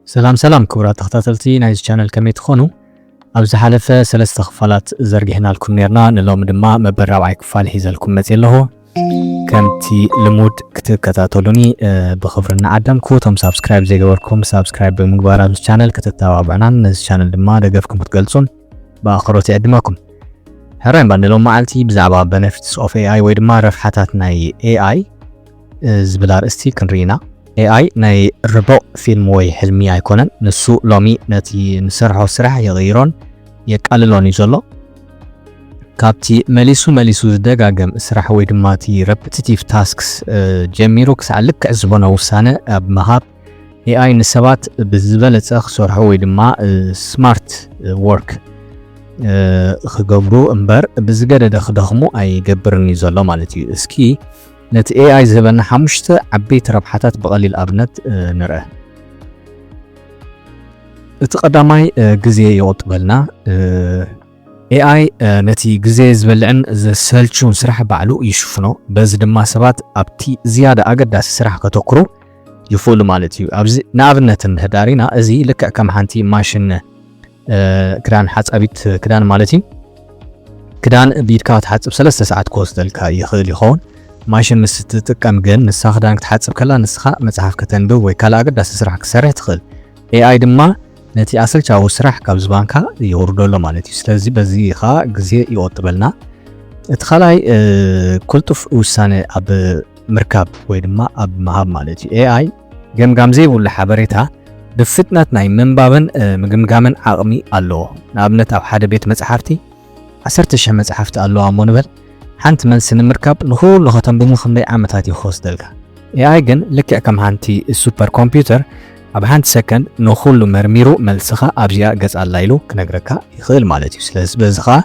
ሰላም ሰላም ክቡራት ተኸታተልቲ ናይዚ ቻነል ከመይ ትኾኑ? ኣብ ዝሓለፈ ሰለስተ ክፋላት ዘርጊሕናልኩም ነርና ንሎሚ ድማ መበል ራብዓይ ክፋል ሒዘልኩም መጽ ኣለኹ። ከምቲ ልሙድ ክትከታተሉኒ ብኽብሪ እናዓደምኩ እቶም ሳብስክራይብ ዘይገበርኩም ሳብስክራይብ ብምግባር ኣብዚ ቻነል ከተተባብዑናን ነዚ ቻነል ድማ ደገፍኩም ክትገልጹን ብኣኽብሮት ይዕድመኩም። ሕራይ እባ ንሎሚ መዓልቲ ብዛዕባ Benefits of AI ወይ ድማ ረብሓታት ናይ AI ዝብል ኣርእስቲ ክንርኢ ኢና። AI ናይ ርቡቕ ፊልም ወይ ሕልሚ ኣይኮነን። ንሱ ሎሚ ነቲ ንሰርሖ ስራሕ ይቕይሮን የቃልሎን እዩ ዘሎ። ካብቲ መሊሱ መሊሱ ዝደጋገም ስራሕ ወይ ድማ እቲ ረፕቲቲቭ ታስክስ ጀሚሩ ክሳዕ ልክዕ ዝኾነ ውሳነ ኣብ ምሃብ AI ንሰባት ብዝበለጸ ክሰርሑ ወይ ድማ ስማርት ወርክ ክገብሩ እምበር ብዝገደደ ክደኽሙ ኣይገብርን እዩ ዘሎ ማለት እዩ። እስኪ ነቲ AI ዝህበና ሓሙሽተ ዓበይቲ ረብሓታት ብቐሊል ኣብነት ንርአ። እቲ ቀዳማይ ግዜ ይቑጥበልና። AI ነቲ ግዜ ዝበልዕን ዘሰልችውን ስራሕ ባዕሉ ይሽፍኖ። በዚ ድማ ሰባት ኣብቲ ዝያዳ ኣገዳሲ ስራሕ ከተኩሩ ይኽእሉ ማለት እዩ። ኣብዚ ንኣብነት እንህዳር ኢና እዚ ልክዕ ከም ሓንቲ ማሽን ክዳን ሓጻቢት ክዳን ማለት እዩ ክዳን ብኢድካ ክትሓጽብ ሰለስተ ሰዓት ክወስደልካ ይኽእል ይኸውን። ማሽን ምስ ትጥቀም ግን ንሳ ክዳን ክትሓጽብ ከላ ንስኻ መጽሓፍ ከተንብብ ወይ ካልእ ኣገዳሲ ስራሕ ክትሰርሕ ትኽእል። ኤኣይ ድማ ነቲ ኣሰልቻዊ ስራሕ ካብ ዝባንካ የውርደሎ ማለት እዩ። ስለዚ በዚ ኸኣ ግዜ ይቆጥበልና። እቲ ካልኣይ ቅልጡፍ ውሳነ ኣብ ምርካብ ወይ ድማ ኣብ ምሃብ ማለት እዩ። ኤኣይ ገምጋም ዘይብሉ ሓበሬታ ብፍጥነት ናይ ምንባብን ምግምጋምን ዓቕሚ ኣለዎ። ንኣብነት ኣብ ሓደ ቤት መጽሓፍቲ ዓሰርተ ሽሕ መጽሓፍቲ ኣለዋ እሞ ንበል፣ ሓንቲ መልሲ ንምርካብ ንኹሉ ከተንብቡ ክንደይ ዓመታት እዩ ክወስደልካ? ኤኣይ ግን ልክዕ ከም ሓንቲ ሱፐር ኮምፒውተር ኣብ ሓንቲ ሰከንድ ንኹሉ መርሚሩ መልስኻ ኣብዚኣ ገጽ ኣላ ኢሉ ክነግረካ ይኽእል ማለት እዩ። ስለዚ በዚ ኸኣ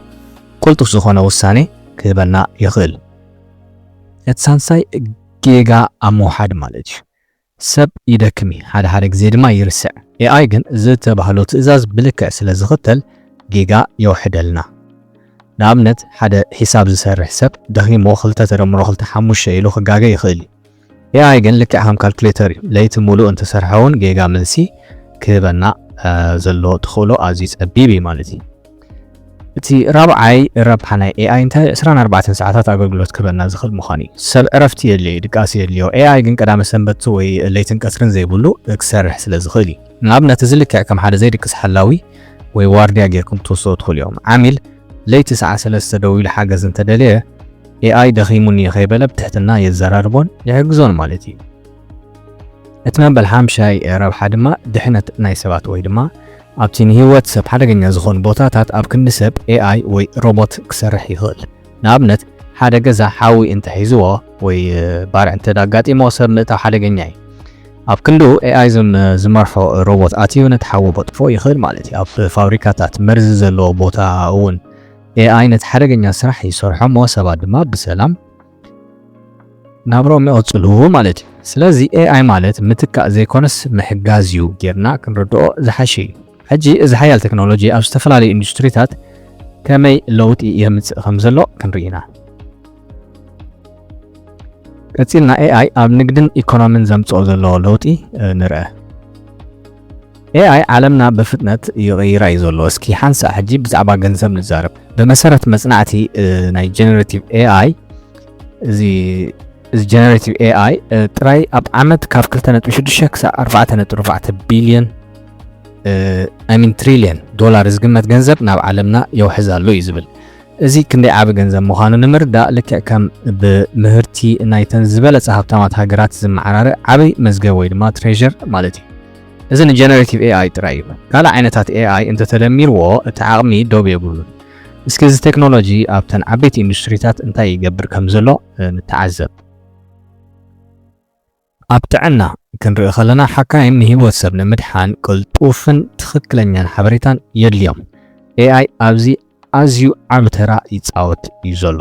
ቅልጡፍ ዝኾነ ውሳኔ ክህበና ይኽእል። እቲ ሳልሳይ ጌጋ ኣብ ምውሓድ ማለት እዩ። ሰብ ይደክም እዩ፣ ሓደ ሓደ ግዜ ድማ ይርስዕ። AI ግን ዝተባህሎ ትእዛዝ ብልክዕ ስለ ዝኽተል ጌጋ የውሕደልና። ንኣብነት ሓደ ሒሳብ ዝሰርሕ ሰብ ደኺምዎ ክልተ ተደምሮ ክልተ ሓሙሽተ ኢሉ ክጋገ ይኽእል እዩ። AI ግን ልክዕ ከም ካልኩሌተር እዩ፣ ለይቲ ሙሉእ እንተሰርሐ እውን ጌጋ መልሲ ክህበና ዘሎ ተኽእሎ ኣዝዩ ጸቢብ እዩ ማለት እዩ። እቲ ራብዓይ ረብሓ ናይ AI እንታይ ዕስራን ኣርባዕተን ሰዓታት ኣገልግሎት ክህበና ዝኽእል ምዃኑ እዩ። ሰብ ዕረፍቲ የድልዮ እዩ፣ ድቃስ የድልዮ። AI ግን ቀዳመ ሰንበት ወይ ለይትን ቀትርን ዘይብሉ ክሰርሕ ስለ ዝኽእል እዩ። ንኣብነት እዚ ልክዕ ከም ሓደ ዘይድቅስ ሓላዊ ወይ ዋርድያ ጌርኩም ክትወስድዎ ትኽእሉ ኢኹም። ዓሚል ለይቲ ሰዓት ሰለስተ ደዊሉ ሓገዝ እንተደለየ፣ AI ደኺሙኒ ከይበለ ብትሕትና የዘራርቦን ይሕግዞን ማለት እዩ። እቲ መበል ሓምሻይ ረብሓ ድማ ድሕነት ናይ ሰባት ወይ ድማ ኣብቲ ንህይወት ሰብ ሓደገኛ ዝኾኑ ቦታታት ኣብ ክንዲ ሰብ AI ወይ ሮቦት ክሰርሕ ይኽእል። ንኣብነት ሓደ ገዛ ሓዊ እንተሒዝዎ ወይ ባርዕ እንተ ኣጋጢሞ ሰብ ምእታው ሓደገኛ እዩ። ኣብ ክንዱ ኤኣይ ዝመርሖ ሮቦት ኣትዩ ነቲ ሓዊ ቦጥፎ ይኽእል ማለት እዩ። ኣብ ፋብሪካታት መርዚ ዘለዎ ቦታ እውን AI ነቲ ሓደገኛ ስራሕ ይሰርሖ እሞ ሰባት ድማ ብሰላም ናብርኦም ይቕጽሉ ማለት እዩ። ስለዚ AI ማለት ምትካእ ዘይኮነስ ምሕጋዝ እዩ ጌርና ክንርድኦ ዝሓሸ እዩ። ሕጂ እዚ ሓያል ተክኖሎጂ ኣብ ዝተፈላለዩ ኢንዱስትሪታት ከመይ ለውጢ የምጽእ ከምዘሎ ክንርኢ ኢና። ቀፂልና ኤኣይ ኣብ ንግድን ኢኮኖሚን ዘምፅኦ ዘለዎ ለውጢ ንርአ። ኤኣይ ዓለምና ብፍጥነት ይቕይራ እዩ ዘሎ። እስኪ ሓንሳእ ሕጂ ብዛዕባ ገንዘብ ንዛረብ። ብመሰረት መፅናዕቲ ናይ ጀነሬቲቭ ኤኣይ እዚ እዚ ጀነሬቲቭ ኤኣይ ጥራይ ኣብ ዓመት ካብ 2.6 ክሳብ 4.4 ቢልዮን ኣይሚን ትሪልዮን ዶላር ዝግመት ገንዘብ ናብ ዓለምና የውሕዛሉ እዩ ዝብል እዚ ክንደይ ዓቢ ገንዘብ ምዃኑ ንምርዳእ ልክዕ ከም ብምህርቲ ናይተን ዝበለጸ ሃብታማት ሃገራት ዝመዓራረ ዓቢ መዝገብ ወይ ድማ ትሬዠር ማለት እዩ። እዚ ንጀነሬቲቭ ኤኣይ ጥራይ እዩ። ካልእ ዓይነታት ኤኣይ እንተተደሚርዎ እቲ ዓቕሚ ዶብ የብሉን። እስኪ እዚ ቴክኖሎጂ ኣብተን ዓበይቲ ኢንዱስትሪታት እንታይ ይገብር ከምዘሎ ንተዓዘብ። ኣብ ጥዕና ክንርኢ ከለና ሓካይም ንህይወት ሰብ ንምድሓን ቅልጡፍን ትኽክለኛን ሓበሬታን የድልዮም። AI ኣብዚ ኣዝዩ ዓቢ ተራ ይጻወት እዩ ዘሎ።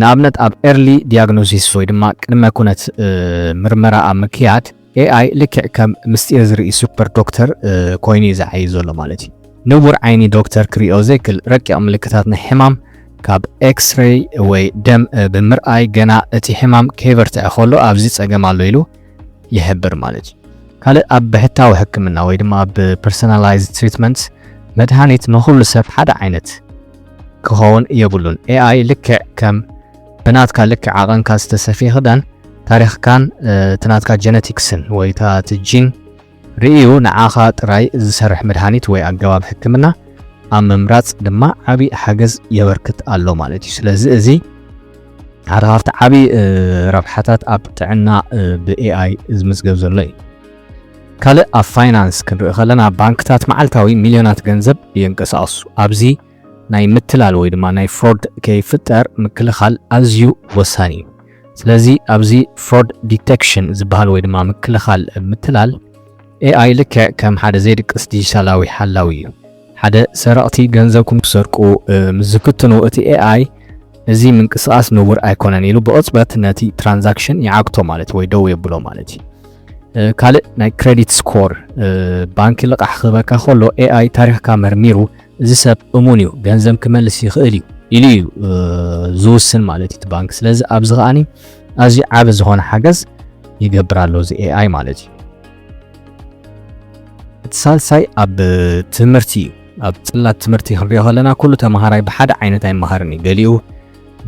ንኣብነት ኣብ ኤርሊ ዲያግኖሲስ ወይ ድማ ቅድመ ኩነት ምርመራ ኣብ ምክያድ AI ልክዕ ከም ምስጢር ዝርኢ ሱፐር ዶክተር ኮይኑ እዩ ዝዓይይ ዘሎ ማለት እዩ። ንቡር ዓይኒ ዶክተር ክሪኦ ዘይክል ረቂቕ ምልክታት ናይ ሕማም ካብ ኤክስሬይ ወይ ደም ብምርኣይ ገና እቲ ሕማም ከይበርትዐ ከሎ ኣብዚ ጸገም ኣሎ ኢሉ ይሕብር ማለት እዩ። ካልእ ኣብ ብሕታዊ ሕክምና ወይ ድማ ኣብ ፐርሰናላይዝ ትሪትመንት መድሃኒት ንኹሉ ሰብ ሓደ ዓይነት ክኸውን የብሉን። ኤኣይ ልክዕ ከም ብናትካ ልክዕ ዓቐንካ ዝተሰፍየ ክዳን ታሪኽካን እቲ ናትካ ጀነቲክስን ወይ እቲ ጂን ርእዩ ንዓኻ ጥራይ ዝሰርሕ መድሃኒት ወይ ኣገባብ ሕክምና ኣብ ምምራጽ ድማ ዓቢ ሓገዝ የበርክት ኣሎ ማለት እዩ። ስለዚ እዚ ሓደ ካብቲ ዓቢ ረብሓታት ኣብ ጥዕና ብኤኣይ ዝምዝገብ ዘሎ እዩ። ካልእ ኣብ ፋይናንስ ክንርኢ ከለና ባንክታት መዓልታዊ ሚልዮናት ገንዘብ የንቀሳቕሱ። ኣብዚ ናይ ምትላል ወይ ድማ ናይ ፍሮድ ከይፍጠር ምክልኻል ኣዝዩ ወሳኒ እዩ። ስለዚ ኣብዚ ፍሮድ ዲተክሽን ዝበሃል ወይ ድማ ምክልኻል ምትላል ኤኣይ ልክዕ ከም ሓደ ዘይድቅስ ዲጂታላዊ ሓላዊ እዩ። ሓደ ሰረቕቲ ገንዘብኩም ክሰርቁ ምስ ዝፍትኑ እቲ ኤኣይ እዚ ምንቅስቓስ ንቡር ኣይኮነን ኢሉ ብቕጽበት ነቲ ትራንዛክሽን ይዓግቶ ማለት እዩ ወይ ደው የብሎ ማለት እዩ። ካልእ ናይ ክሬዲት ስኮር ባንኪ ልቓሕ ክህበካ ከሎ ኤኣይ ታሪኽካ መርሚሩ እዚ ሰብ እሙን እዩ ገንዘብ ክመልስ ይኽእል እዩ ኢሉ እዩ ዝውስን ማለት እዩ ባንክ። ስለዚ ኣብዚ ከዓኒ ኣዝዩ ዓቢ ዝኾነ ሓገዝ ይገብር ኣሎ እዚ ኤኣይ ማለት እዩ። እቲ ሳልሳይ ኣብ ትምህርቲ እዩ። ኣብ ጽላት ትምህርቲ ክንሪኦ ከለና ኩሉ ተምሃራይ ብሓደ ዓይነት ኣይመሃርን እዩ። ገሊኡ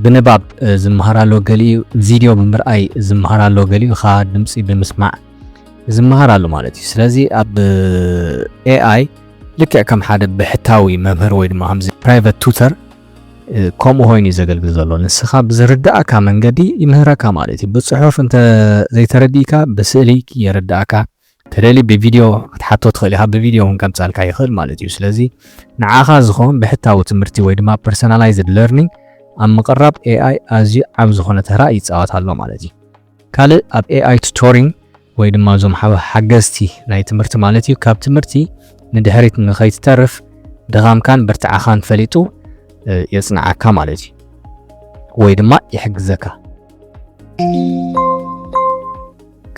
ብንባብ ዝመሃር ኣሎ፣ ገሊኡ ቪድዮ ብምርኣይ ዝመሃር ኣሎ፣ ገሊኡ ኸኣ ድምጺ ብምስማዕ ዝመሃር ኣሎ ማለት እዩ። ስለዚ ኣብ ኤኣይ ልክዕ ከም ሓደ ብሕታዊ መምህር ወይ ድማ ከምዚ ፕራይቨት ቱተር ከምኡ ኮይኑ እዩ ዘገልግል ዘሎ ንስኻ ብዝርዳእካ መንገዲ ይምህረካ ማለት እዩ ብፅሑፍ እንተ ዘይተረዲእካ ብስእሊ የረዳእካ ተደሊ ብቪድዮ ክትሓቶ ትኽእል ኢኻ ብቪድዮ እውን ከምፃልካ ይኽእል ማለት እዩ ስለዚ ንዓኻ ዝኸውን ብሕታዊ ትምህርቲ ወይ ድማ ፐርሰናላይዝድ ለርኒንግ ኣብ ምቕራብ ኤኣይ ኣዝዩ ዓብ ዝኾነ ተራ ይፃወት ኣሎ ማለት እዩ ካልእ ኣብ AI ቱቶሪንግ ወይ ድማ እዞም ሓገዝቲ ናይ ትምህርቲ ማለት እዩ ካብ ትምህርቲ ንድሕሪት ንኸይትተርፍ ድኻምካን ብርትዓኻን ፈሊጡ የጽንዓካ ማለት እዩ ወይ ድማ ይሕግዘካ።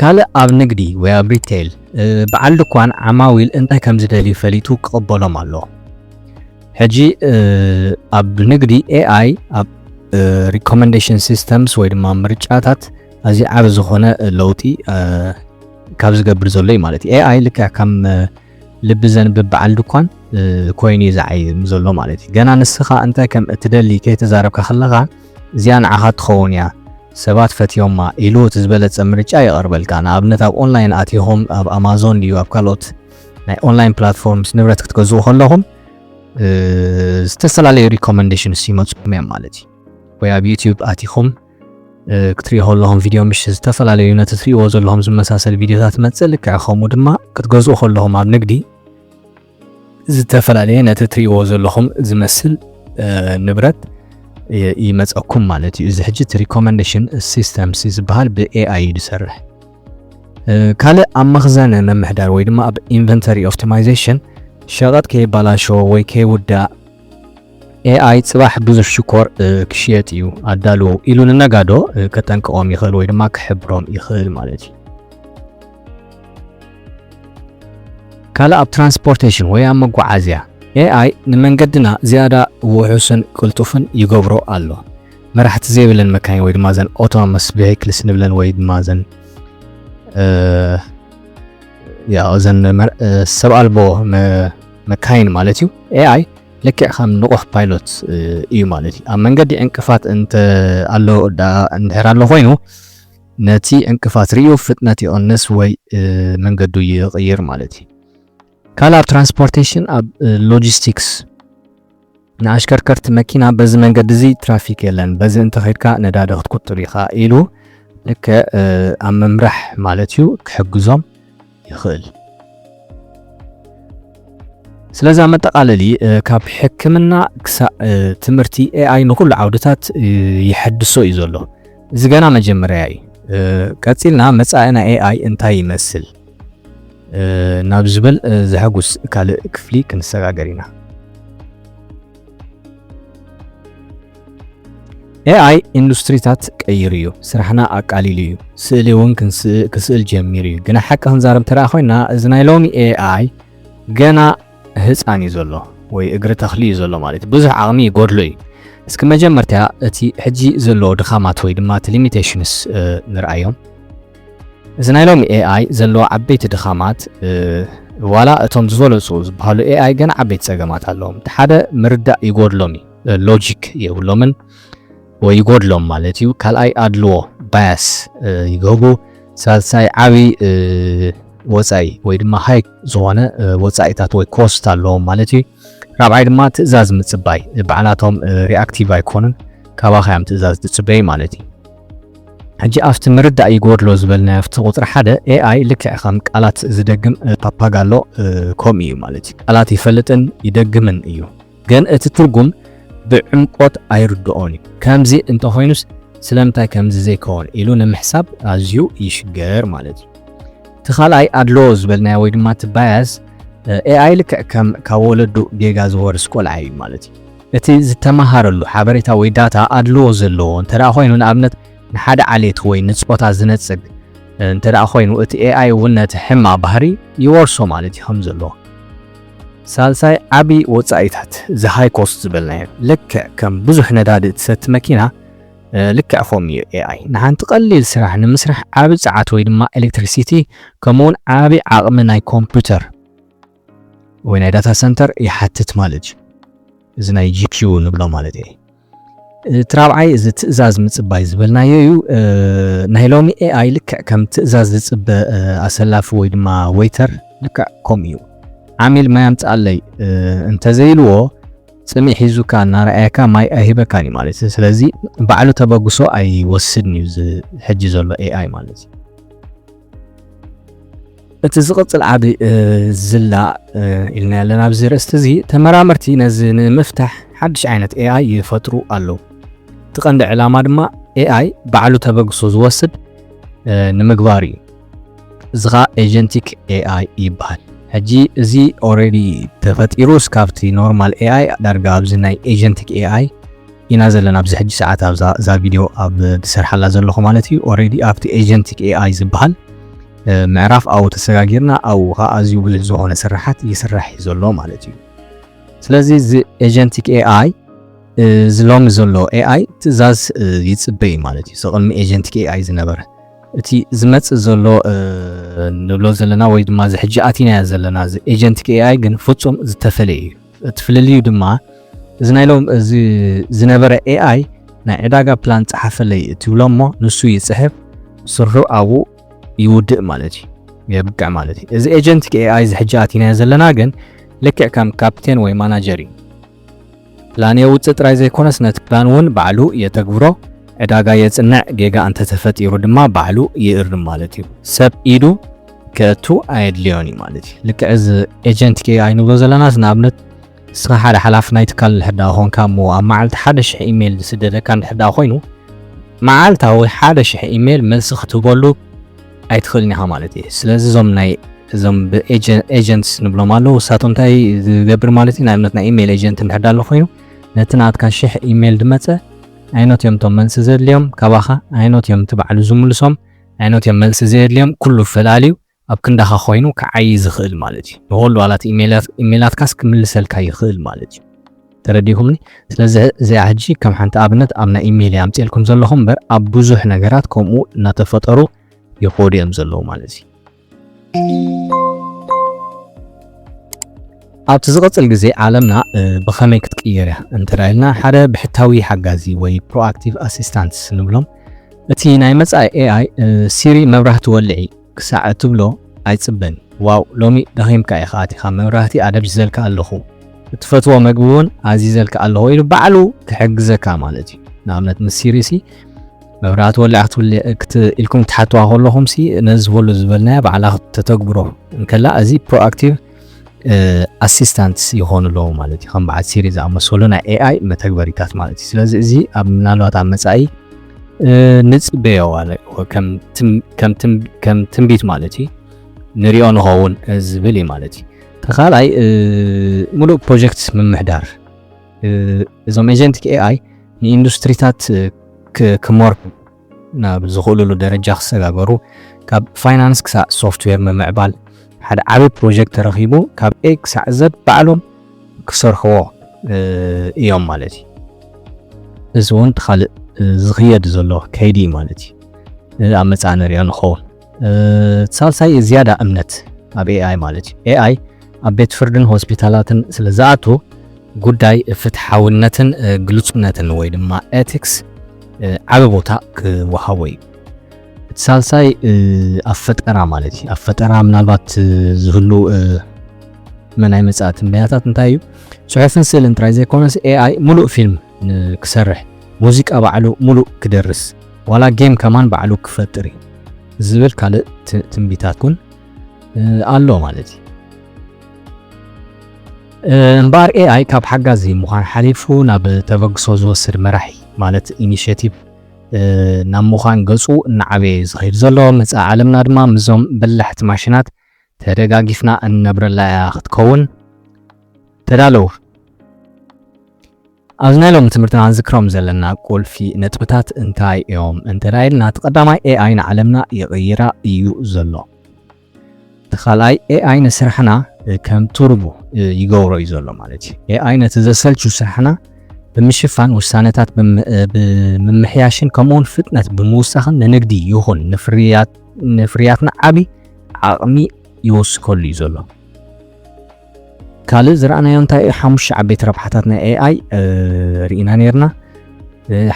ካልእ ኣብ ንግዲ ወይ ኣብ ሪቴል በዓል ድኳን ዓማዊል እንታይ ከም ዝደልዩ ፈሊጡ ክቕበሎም ኣለዎ። ሕጂ ኣብ ንግዲ ኤኣይ ኣብ ሪኮመንዴሽን ሲስተምስ ወይ ድማ ምርጫታት ኣዚ ዓብ ዝኾነ ለውጢ ካብ ዝገብር ዘሎ እዩ ማለት እዩ ኤኣይ ልክ ከም ልቢ ዘንብብ በዓል ድኳን ኮይኑ እዩ ዝዓይ ዘሎ ማለት እዩ ገና ንስኻ እንተ ከም እትደሊ ከይተዛረብካ ከለኻ እዚኣ ንዓኻ ትኸውን እያ ሰባት ፈትዮማ ኢሉ እቲ ዝበለጸ ምርጫ የቐርበልካ ንኣብነት ኣብ ኦንላይን ኣቲኹም ኣብ ኣማዞን ድዩ ኣብ ካልኦት ናይ ኦንላይን ፕላትፎርምስ ንብረት ክትገዝኡ ከለኹም ዝተፈላለዩ ሪኮመንዴሽንስ ይመፅኩም እዮም ማለት እዩ ወይ ኣብ ዩቲዩብ ኣቲኹም ክትሪኦ ከለኹም ቪድዮ ምሽ ዝተፈላለዩ ነቲ ትሪእዎ ዘለኹም ዝመሳሰል ቪድዮታት መፅእ ልክዕ ከምኡ ድማ ክትገዝኡ ከለኹም ኣብ ንግዲ ዝተፈላለየ ነቲ ትሪእዎ ዘለኹም ዝመስል ንብረት ይመፀኩም ማለት እዩ እዚ ሕጂ እቲ ሪኮመንዴሽን ሲስተምስ ዝበሃል ብኤኣይ እዩ ዝሰርሕ ካልእ ኣብ መኽዘን ምምሕዳር ወይ ድማ ኣብ ኢንቨንተሪ ኦፕቲማይዜሽን ሸቐጥ ከይባላሾ ወይ ከይውዳእ ኤኣይ ጽባሕ ብዙሕ ሽኮር ክሽየጥ እዩ ኣዳልዎ ኢሉ ንነጋዶ ከጠንቅቖም ይኽእል ወይ ድማ ክሕብሮም ይኽእል ማለት እዩ። ካልእ ኣብ ትራንስፖርቴሽን ወይ ኣብ መጓዓዝያ ኤኣይ ንመንገድና ዝያዳ ውሑስን ቅልጡፍን ይገብሮ ኣሎ። መራሕቲ ዘይብለን መካይን ወይ ድማ ዘን ኦቶኖመስ ቬክልስ ንብለን ወይ ድማ ዘን ያው ዘን ሰብ ኣልቦ መካይን ማለት እዩ ኤኣይ ልክዕ ከም ንቑሕ ፓይሎት እዩ ማለት እዩ ኣብ መንገዲ ዕንቅፋት እንተ ኣሎ እንድሕር ኣሎ ኮይኑ ነቲ ዕንቅፋት ርዩ ፍጥነት ይቕንስ ወይ መንገዱ ይቕይር ማለት እዩ ካልእ ኣብ ትራንስፖርቴሽን ኣብ ሎጂስቲክስ ንኣሽከርከርቲ መኪና በዚ መንገዲ እዚ ትራፊክ የለን በዚ እንተኸድካ ነዳዲ ክትቁጥብ ኢኻ ኢሉ ልክዕ ኣብ ምምራሕ ማለት እዩ ክሕግዞም ይኽእል። ስለዚ ኣብ መጠቓለሊ ካብ ሕክምና ክሳዕ ትምህርቲ ኤኣይ ንኹሉ ዓውድታት ይሐድሶ እዩ ዘሎ። እዚ ገና መጀመርያ እዩ። ቀጺልና መጻኢና ኤኣይ እንታይ ይመስል? ናብ ዝበል ዘሐጉስ ካልእ ክፍሊ ክንሰጋገር ኢና። ኤኣይ ኢንዱስትሪታት ቀይሩ እዩ፣ ስራሕና ኣቃሊሉ እዩ፣ ስእሊ እውን ክስእል ጀሚሩ እዩ። ግና ሓቂ ክንዛረብ እንተደኣ ኮይና እዚ ናይ ሎሚ ኤኣይ ገና ህፃን እዩ ዘሎ ወይ እግሪ ተኽሊ እዩ ዘሎ ማለት እዩ። ብዙሕ ዓቕሚ ይጎድሎ እዩ። እስኪ መጀመርታ እቲ ሕጂ ዘለዎ ድኻማት ወይ ድማ እቲ ሊሚቴሽንስ ንርኣዮም። እዚ ናይ ሎሚ ኤኣይ ዘለዎ ዓበይቲ ድኻማት ዋላ እቶም ዝበለፁ ዝበሃሉ ኤኣይ ገና ዓበይቲ ፀገማት ኣለዎም። እቲ ሓደ ምርዳእ ይጎድሎም እዩ፣ ሎጂክ የብሎምን ወይ ይጎድሎም ማለት እዩ። ካልኣይ ኣድልዎ ባያስ ይገብሩ። ሳልሳይ ዓብዪ ወፃኢ ወይ ድማ ሃይ ዝኾነ ወፃኢታት ወይ ኮስት ኣለዎም ማለት እዩ። ራብዓይ ድማ ትእዛዝ ምፅባይ፣ ባዕላቶም ሪኣክቲቭ ኣይኮኑን፣ ካባኻ እዮም ትእዛዝ ዝፅበዩ ማለት እዩ። ሕጂ ኣብቲ ምርዳእ ይጎድሎ ዝበልናዮ ኣብቲ ቁጽሪ ሓደ AI ልክዕ ከም ቃላት ዝደግም ፓፓጋሎ ከምኡ እዩ ማለት እዩ ቃላት ይፈልጥን ይደግምን እዩ ግን እቲ ትርጉም ብዕምቆት ኣይርድኦን እዩ ከምዚ እንተኾይኑስ ስለምንታይ ከምዚ ዘይከውን ኢሉ ንምሕሳብ ኣዝዩ ይሽገር ማለት እዩ እቲ ካልኣይ ኣድሎ ዝበልናዮ ወይ ድማ እቲ ባያስ ኤኣይ ልክዕ ከም ካብ ወለዱ ጌጋ ዝወርስ ቆልዓ እዩ ማለት እዩ እቲ ዝተመሃረሉ ሓበሬታ ወይ ዳታ ኣድልዎ ዘለዎ እንተድኣ ኮይኑ፣ ንኣብነት ንሓደ ዓሌት ወይ ንጾታ ዝነጽግ እንተድኣ ኮይኑ፣ እቲ ኤኣይ እውን ነቲ ሕማቕ ባህሪ ይወርሶ ማለት እዩ። ከም ዘሎ። ሳልሳይ ዓቢ ወጻኢታት፣ እዚ ሃይ ኮስት ዝበልናዮ፣ ልክዕ ከም ብዙሕ ነዳዲ እትሰቲ መኪና፣ ልክዕ ከምኡ እዩ ኤኣይ። ንሓንቲ ቀሊል ስራሕ ንምስራሕ ዓቢ ጸዓት ወይ ድማ ኤለክትሪሲቲ ከምኡውን ዓቢ ዓቕሚ ናይ ኮምፕዩተር፣ ወይ ናይ ዳታ ሰንተር ይሓትት ማለት እዩ እዚ ናይ ጂፒዩ ንብሎ ማለት እዩ እቲ ራብዓይ እዚ ትእዛዝ ምፅባይ ዝበልናዮ እዩ ናይ ሎሚ ኤኣይ ልክዕ ከም ትእዛዝ ዝፅበ ኣሰላፊ ወይ ድማ ወይተር ልክዕ ከምኡ እዩ ዓሚል ማይ ኣምፅኣለይ እንተዘይልዎ ፅሚ ሒዙካ እናረኣየካ ማይ ኣይህበካን እዩ ማለት እዩ ስለዚ ባዕሉ ተበግሶ ኣይወስድን እዩ ሕጂ ዘሎ ኤኣይ ማለት እዩ እቲ ዝቕጽል ዓቢ ዝላ ኢልናዮ ኣለና ኣብዚ ርእስቲ እዚ ተመራመርቲ ነዚ ንምፍታሕ ሓድሽ ዓይነት ኤኣይ ይፈጥሩ ኣለዉ። እቲ ቀንዲ ዕላማ ድማ ኤኣይ ባዕሉ ተበግሶ ዝወስድ ንምግባር እዩ። እዚ ኸኣ ኤጀንቲክ ኤኣይ ይበሃል። ሕጂ እዚ ኦልሬዲ ተፈጢሩ እስካብቲ ኖርማል ኤኣይ ዳርጋ ኣብዚ ናይ ኤጀንቲክ ኤኣይ ኢና ዘለና ኣብዚ ሕጂ ሰዓት ኣብዛ እዛ ቪድዮ ኣብ ዝሰርሓላ ዘለኹ ማለት እዩ። ኦልሬዲ ኣብቲ ኤጀንቲክ ኤኣይ ዝበሃል ምዕራፍ ኣው ተሰጋጊርና ኣው ኸኣ ኣዝዩ ብዙሕ ዝኾነ ስራሓት ይስራሕ እዩ ዘሎ ማለት እዩ። ስለዚ እዚ ኤጀንቲክ ኤኣይ እዚ ሎሚ ዘሎ ኤኣይ ትእዛዝ ይጽበ እዩ ማለት እዩ። ቅድሚ ኤጀንቲክ ኤኣይ ዝነበረ እቲ ዝመጽእ ዘሎ ንብሎ ዘለና ወይ ድማ እዚ ሕጂ ኣቲናዮ ዘለና እዚ ኤጀንቲክ ኤኣይ ግን ፍጹም ዝተፈለየ እዩ። እቲ ፍልልዩ ድማ እዚ ናይ ሎም እዚ ዝነበረ ኤኣይ ናይ ዕዳጋ ፕላን ጸሓፈለይ እትብሎ እሞ ንሱ ይጽሕፍ ስርሑ ኣብኡ ይውድእ ማለት እዩ የብቅዕ ማለት እዩ እዚ ኤጀንት ኤኣይ እዚ ሕጂ ኣቲናዮ ዘለና ግን ልክዕ ከም ካፕቴን ወይ ማናጀር እዩ ፕላን የውፅእ ጥራይ ዘይኮነስ ነቲ ፕላን እውን ባዕሉ የተግብሮ ዕዳጋ የፅንዕ ጌጋ እንተተፈጢሩ ድማ ባዕሉ ይእርም ማለት እዩ ሰብ ኢዱ ከእቱ ኣየድልዮን እዩ ማለት እዩ ልክዕ እዚ ኤጀንት ኤኣይ ንብሎ ዘለናስ ንኣብነት ንስኻ ሓደ ሓላፊ ናይ ትካል እንድሕር ደኣ ኾንካ እሞ ኣብ መዓልቲ ሓደ ሽሕ ኢሜይል ዝስደደካ እንድሕር ደኣ ኾይኑ መዓልታዊ ሓደ ሽሕ ኢሜይል መልሲ ክትህበሉ ኣይትኽእልን ኢኻ ማለት እዩ። ስለዚ እዞም ናይ እዞም ኤጀንትስ ንብሎም ኣለዉ ንሳቶም እንታይ ዝገብር ማለት እዩ ንኣብነት ናይ ኢሜይል ኤጀንት እንድሕር ኣሎ ኮይኑ ነቲ ናትካ ሽሕ ኢሜይል ድመፀ ኣይኖት እዮም እቶም መልሲ ዘድልዮም ካባኻ ኣይኖት እዮም እቲ ባዕሉ ዝምልሶም ኣይኖት እዮም መልሲ ዘየድልዮም ኩሉ ፈላልዩ ኣብ ክንዳኻ ኮይኑ ክዓዪ ዝኽእል ማለት እዩ። ንኹሉ ዋላት ኢሜላትካስ ክምልሰልካ ይኽእል ማለት እዩ። ተረዲእኩምኒ? ስለዚ እዚኣ ሕጂ ከም ሓንቲ ኣብነት ኣብ ናይ ኢሜለይ ኣምጺኤልኩም ዘለኹ እምበር ኣብ ብዙሕ ነገራት ከምኡ እናተፈጠሩ ይኸዱ እዮም ዘለዉ ማለት እዩ። ኣብቲ ዝቕጽል ግዜ ዓለምና ብኸመይ ክትቅየር እያ እንተ ኢልና ሓደ ብሕታዊ ሓጋዚ ወይ ፕሮኣክቲቭ ኣሲስታንትስ ንብሎም እቲ ናይ መጻኢ ኤኣይ ሲሪ መብራህቲ ወልዒ ክሳዕ እትብሎ ኣይጽበን። ዋው ሎሚ ደኺምካ ኢኻ ኣቲኻ መብራህቲ ኣደብዚዘልካ ኣለኹ እትፈትዎ መግቢ ውን ኣዚዘልካ ኣለኹ ኢሉ ባዕሉ ክሕግዘካ ማለት እዩ ንኣብነት ምስ ሲሪ ሲ መብራህቲ ወሊዓ ክትብል ኢልኩም ትሓትዋ ከለኹም ሲ ነዚ ዝበሉ ዝበልናያ ባዕላ ተተግብሮ እንከላ እዚ ፕሮኣክቲቭ ኣሲስታንትስ ይኾኑ ኣለዉ ማለት እዩ ከም በዓል ሲሪ ዝኣመሰሉ ናይ ኤኣይ መተግበሪታት ማለት እዩ ስለዚ እዚ ኣብ ምናልባት ኣብ መፃኢ ንፅበዮ ከም ትንቢት ማለት እዩ ንሪኦ ንኸውን ዝብል እዩ ማለት እዩ ተካልኣይ ሙሉእ ፕሮጀክት ምምሕዳር እዞም ኤጀንቲክ ኤኣይ ንኢንዱስትሪታት ክመርሑ ናብ ዝኽእሉሉ ደረጃ ክሰጋገሩ፣ ካብ ፋይናንስ ክሳዕ ሶፍትዌር ምምዕባል፣ ሓደ ዓቢ ፕሮጀክት ተረኺቡ ካብ ኤ ክሳዕ ዘድ ባዕሎም ክሰርሕዎ እዮም ማለት እዩ። እዚ እውን እቲ ካልእ ዝኽየድ ዘሎ ከይዲ እዩ ማለት እዩ። ኣብ መጻኢ ንሪኦ ንኸውን። ሳልሳይ ዝያዳ እምነት ኣብ ኤኣይ ማለት እዩ። ኤኣይ ኣብ ቤት ፍርድን ሆስፒታላትን ስለ ዝኣቱ ጉዳይ ፍትሓውነትን ግልጹነትን ወይ ድማ ኤቲክስ ዓበ ቦታ ክወሃቦ እዩ። እቲ ሳልሳይ ኣብ ፈጠራ ማለት እዩ። ኣብ ፈጠራ ምናልባት ዝህሉ መናይ መጻእቲ ምክንያታት እንታይ እዩ? ጽሑፍን ስእልን ጥራይ ዘይኮነስ ኤኣይ ሙሉእ ፊልም ክሰርሕ፣ ሙዚቃ ባዕሉ ሙሉእ ክደርስ ዋላ ጌም ከማን ባዕሉ ክፈጥር እዩ ዝብል ካልእ ትንቢታት እውን ኣሎ ማለት እዩ። እምበኣር ኤኣይ ካብ ሓጋዚ ምዃን ሓሊፉ ናብ ተበግሶ ዝወስድ መራሒ ማለት ኢኒሽቲቭ ናብ ምዃን ገጹ እናዓበየ እዩ ዝኸይድ ዘሎ። መጻኢ ዓለምና ድማ ምስዞም በላሕቲ ማሽናት ተደጋጊፍና እንነብረላ እያ ክትከውን ተዳለዉ። ኣብዚ ናይ ሎሚ ትምህርትና ክንዝክሮም ዘለና ቁልፊ ነጥብታት እንታይ እዮም እንተ ኢልና እቲ ቀዳማይ ኤኣይ ንዓለምና ይቕይራ እዩ ዘሎ። እቲ ካልኣይ ኤኣይ ንስራሕና ከም ቱርቡ ይገብሮ እዩ ዘሎ ማለት እዩ። ኤኣይ ነቲ ዘሰልቹ ስራሕና ብምሽፋን ውሳነታት ብምምሕያሽን ከምኡውን ፍጥነት ብምውሳኽን ንንግዲ ይኹን ንፍርያትና ዓብዪ ዓቕሚ ይወስከሉ እዩ ዘሎ። ካልእ ዝረኣናዮ እንታይ እዩ? ሓሙሽተ ዓበይቲ ረብሓታት ናይ ኤኣይ ርኢና ነርና።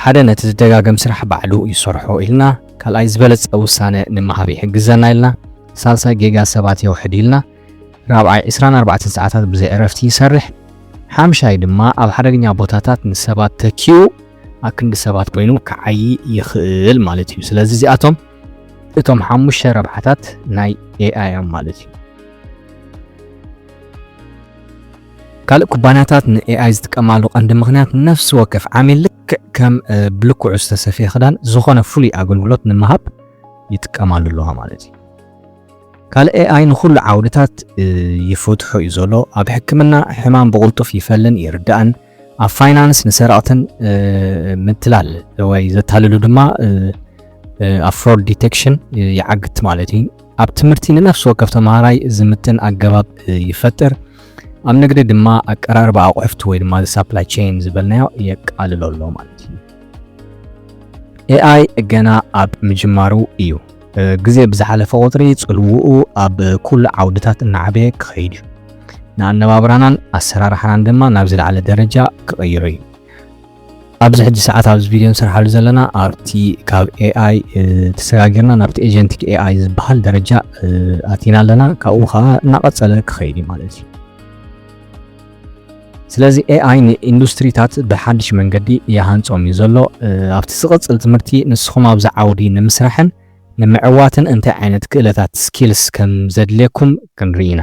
ሓደ ነቲ ዝደጋገም ስራሕ ባዕሉ ይሰርሖ ኢልና፣ ካልኣይ ዝበለጸ ውሳነ ንምሃብ ይሕግዘና ኢልና፣ ሳልሳይ ጌጋ ሰባት የውሕድ ኢልና፣ ራብዓይ 24 ሰዓታት ብዘይ ዕረፍቲ ይሰርሕ፣ ሓምሻይ ድማ ኣብ ሓደገኛ ቦታታት ንሰባት ተኪኡ ኣክንዲ ሰባት ኮይኑ ክዓይ ይኽእል ማለት እዩ። ስለዚ እዚኣቶም እቶም ሓሙሽተ ረብሓታት ናይ ኤኣይ እዮም ማለት እዩ። ካልእ ኩባንያታት ንኤኣይ ዝጥቀማሉ ቀንዲ ምክንያት ነፍሲ ወከፍ ዓሚል ልክዕ ከም ብልክዑ ዝተሰፍየ ክዳን ዝኾነ ፍሉይ ኣገልግሎት ንምሃብ ይጥቀማሉ ኣለዋ ማለት እዩ። ካልእ ኤኣይ ንኩሉ ዓውድታት ይፈትሖ እዩ ዘሎ። ኣብ ሕክምና ሕማም ብቕልጡፍ ይፈልን ይርዳእን፣ ኣብ ፋይናንስ ንሰረቕትን ምትላል ወይ ዘታልሉ ድማ ኣብ ፍሮድ ዲቴክሽን ይዓግት ማለት እዩ። ኣብ ትምህርቲ ንነፍሲ ወከፍ ተምሃራይ ዝምጥን ኣገባብ ይፈጥር። ኣብ ንግዲ ድማ ኣቀራርባ ኣቑሑት ወይ ድማ ሳፕላይ ቼን ዝበልናዮ የቃልሎ ኣሎ ማለት እዩ። ኤኣይ ገና ኣብ ምጅማሩ እዩ። ግዜ ብዝሓለፈ ቁጽሪ ጽልውኡ ኣብ ኩሉ ዓውድታት እናዓበየ ክኸይድ እዩ። ንኣነባብራናን ኣሰራርሓናን ድማ ናብ ዝለዓለ ደረጃ ክቕይሮ እዩ። ኣብዚ ሕጂ ሰዓት ኣብዚ ቪድዮ ንሰርሓሉ ዘለና ኣብቲ ካብ ኤኣይ ተሰጋጊርና ናብቲ ኤጀንቲክ ኤኣይ ዝበሃል ደረጃ ኣቲና ኣለና። ካብኡ ከዓ እናቐጸለ ክኸይድ እዩ ማለት እዩ። ስለዚ ኤኣይ ንኢንዱስትሪታት ብሓድሽ መንገዲ ይሃንጾም እዩ ዘሎ። ኣብቲ ዝቕጽል ትምህርቲ ንስኹም ኣብዚ ዓውዲ ንምስራሕን ንምዕዋትን እንታይ ዓይነት ክእለታት ስኪልስ ከም ዘድልየኩም ክንርኢ ኢና።